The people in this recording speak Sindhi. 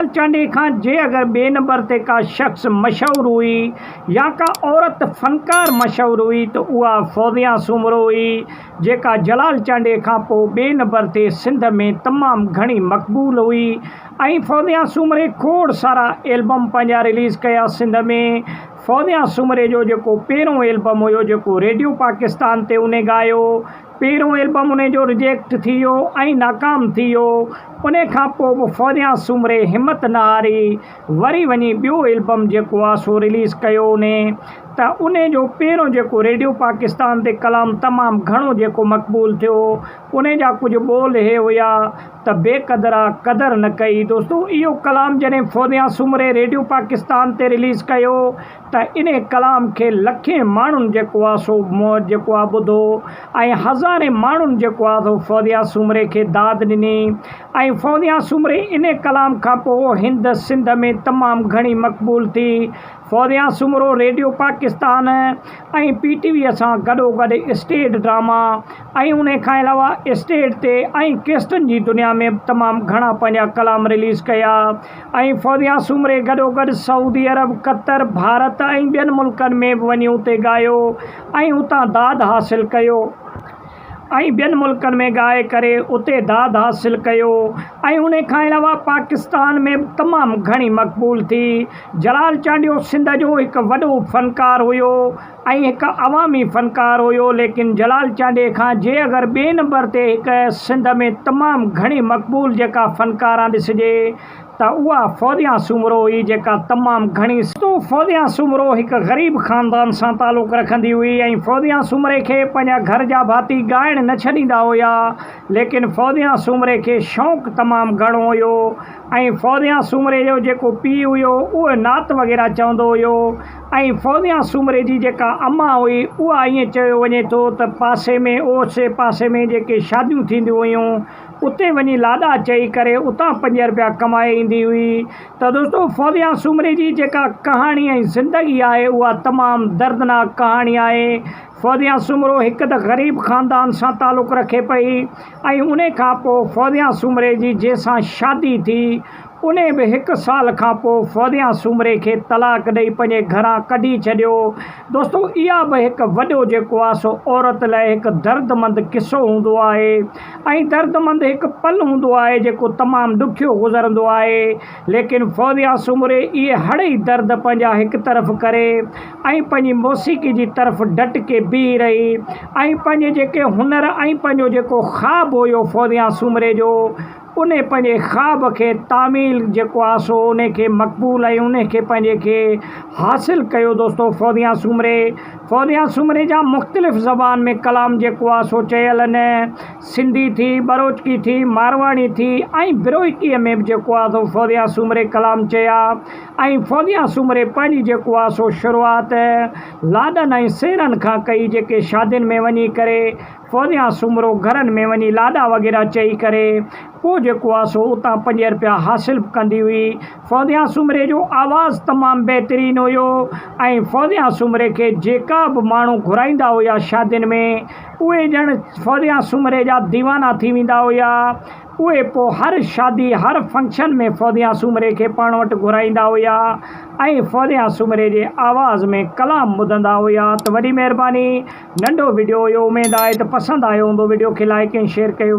ڪيل چانڊيي کان جي اگر ٻئي نمبر تي ڪا شخص مشهور هئي يا ڪا عورت فنڪار مشهور هئي ته اها فوزيا سومرو هئي جيڪا جلال چانڊيي کان پوء ٻئي نمبر تي سنڌ ۾ تمام گهڻي مقبول هئي ۽ فوزيا سومري کوڙ سارا البم پنهنجا رليز ڪيا سنڌ ۾ فوزيا سومري جو جيڪو پهريون البم هيو جيڪو ريڊيو پاڪستان تي انهي ڳايو پهريون البم انهي جو رجيڪٽ ٿي ويو ۽ ناڪام ٿي ويو انهي کان پوء به فوريان سومري همت نه هاري وري وڃي ٻيو البم جيڪو آ سو رليز ڪيو انهي ته انهي جو پهريون جيڪو ريڊيو پاڪستان تي ڪلام تمام گهڻو جيڪو مقبول ٿيو انهي جا ڪجهه ٻول هي هيا ته بي قدرا قدر نه ڪئي دوستو اهو ڪلام جڏهن فوريان سومري ريڊيو پاڪستان تي رليز ڪيو ته ان ڪلام کي لکين ماڻهن جيڪو آ سو موت جيڪو آ ٻڌو ۽ هزارين ماڻهن جيڪو آ سو فوزيا سومري کي داد ڏني ۽ فوزيا سومري ان ڪلام کان پوء هند سنڌ ۾ تمام گهڻي مقبول ٿي Fauzia Soomro radio Pakistan ۽ P T V سان گڏو گڏ اسٽيڊ ڊراما ۽ ان کان علاوه اسٽيڊ تي ۽ ڪيسٽن جي دنيا ۾ به تمام گهڻا پنهنجا ڪلام رليز ڪيا ۽ فوزيا سومري گڏوگڏ سعودي عرب، قطر، ڀارت ۽ ٻين ملڪن ۾ به وڃي اتي ڳايو ۽ اتان داد حاصل ڪيو ۽ ٻين ملڪن ۾ ڳائي ڪري اتي داد حاصل ڪيو ۽ انهي کان علاوه پاڪستان ۾ به تمام گهڻي مقبول ٿي. جلال چانڊيو سنڌ جو هڪ وڏو فنڪار هيو ۽ هڪ عوامي فنڪار هيو ليڪن جلال چانڊيي کان جي اگر ٻئي نمبر تي هڪ سنڌ ۾ تمام گهڻي مقبول جيڪا فنڪاران ڏسجي ته اها فوزيان سومرو هئي جيڪا تمام گهڻي سنڌو فوزيان سومرو هڪ غريب خاندان سان تعلق رکندي هئي ۽ فوزيان سومري کي پنهنجا گهر جا ڀاتي ڳائڻ نه ڇڏيندا هيا ليڪن فوزيان سومري کي شونق تمام گهڻو هيو ۽ فوزيان سومري جو جيڪو پيء هيو اهو نعت وغيره چوندو هيو ۽ فوزيان سومري جي جيڪا اما هئي، اها ائين چيو وڃي ٿو ته پاسي ۾ اوسي پاسي ۾ جيڪي شاديون ٿينديون هيون، اتي وڃي لاڏا چئي ڪري اتان پنج رپيا ڪمائي ايندي هئي. ته دوستو فوزيان سومري جي جيڪا ڪهاڻي ۽ زندگي آهي، اها تمام دردناڪ ڪهاڻي آهي. فوزيان سومرو هڪ ته غريب خاندان سان تعلق رکي پئي ۽ انهي کان پوء فوزيان سومري جي جنهن سان شادي ٿي، انهيء به هڪ سال کان پوء فوزيان سومري کي طلاق ڏئي پنهنجي گهران ڪڍي ڇڏيو. دوستو اها به هڪ وڏو جيڪو آ سو عورت لاء هڪ دردمند قصو هوندو آهي ۽ دردمند هڪ پل هوندو آهي جيڪو تمام ڏکيو گذرندو آهي ليڪن فوزيان سومري اهي هڙ ئي درد پنهنجا هڪ طرف ڪري ۽ پنهنجي موسيقي جي طرف ڊٽ ڪي بيهي رهي ۽ پنهنجي جيڪي هنر ۽ پنهنجو جيڪو خواب هيو فوزيان سومري جو ان پنهنجي خواب کي تعميل جيڪو آ سو ان کي مقبول ۽ ان کي پنهنجي کي حاصل ڪيو دوستو فونديان سومري فونديان سومري جا مختلف زبان ۾ ڪلام جيڪو آ سو چيل ان سنڌي ٿي ٻروچڪي ٿي مارواڙي ٿي ۽ بروهڪي ۾ به جيڪو آ سو فونديان سومري ڪلام چيا ۽ فونديان سومري پنهنجي جيڪو آ سو شروعات لاڏن ۽ سيرن کان ڪئي جيڪي شادين ۾ وڃي ڪري پويان سومرو گهرن ۾ وڃي لاڏا وغيره چئي ڪري پوء جيڪو آ سو اتان پنج رپيا حاصل به ڪندي هئي. پويان سومري جو آواز تمام بهترين هيو ۽ پويان سومري کي جيڪا به ماڻهو گهرائيندا هيا شادين ۾ اهي ڄڻ پويان سومري جا ديوانا ٿي ويندا هيا. اهي پوء هر شادي، هر فنڪشن ۾ فوزيان سومري کي پاڻ وٽ گهرائيندا هيا ۽ فوزيان سومري جي آواز ۾ ڪلام ٻڌندا هيا ته وڏي مهرباني ننڍو وڊيو هيو اميد آهي ته پسند آيو هوندو وڊيو کي لائيڪ ۽ شيئر ڪيو وڃي.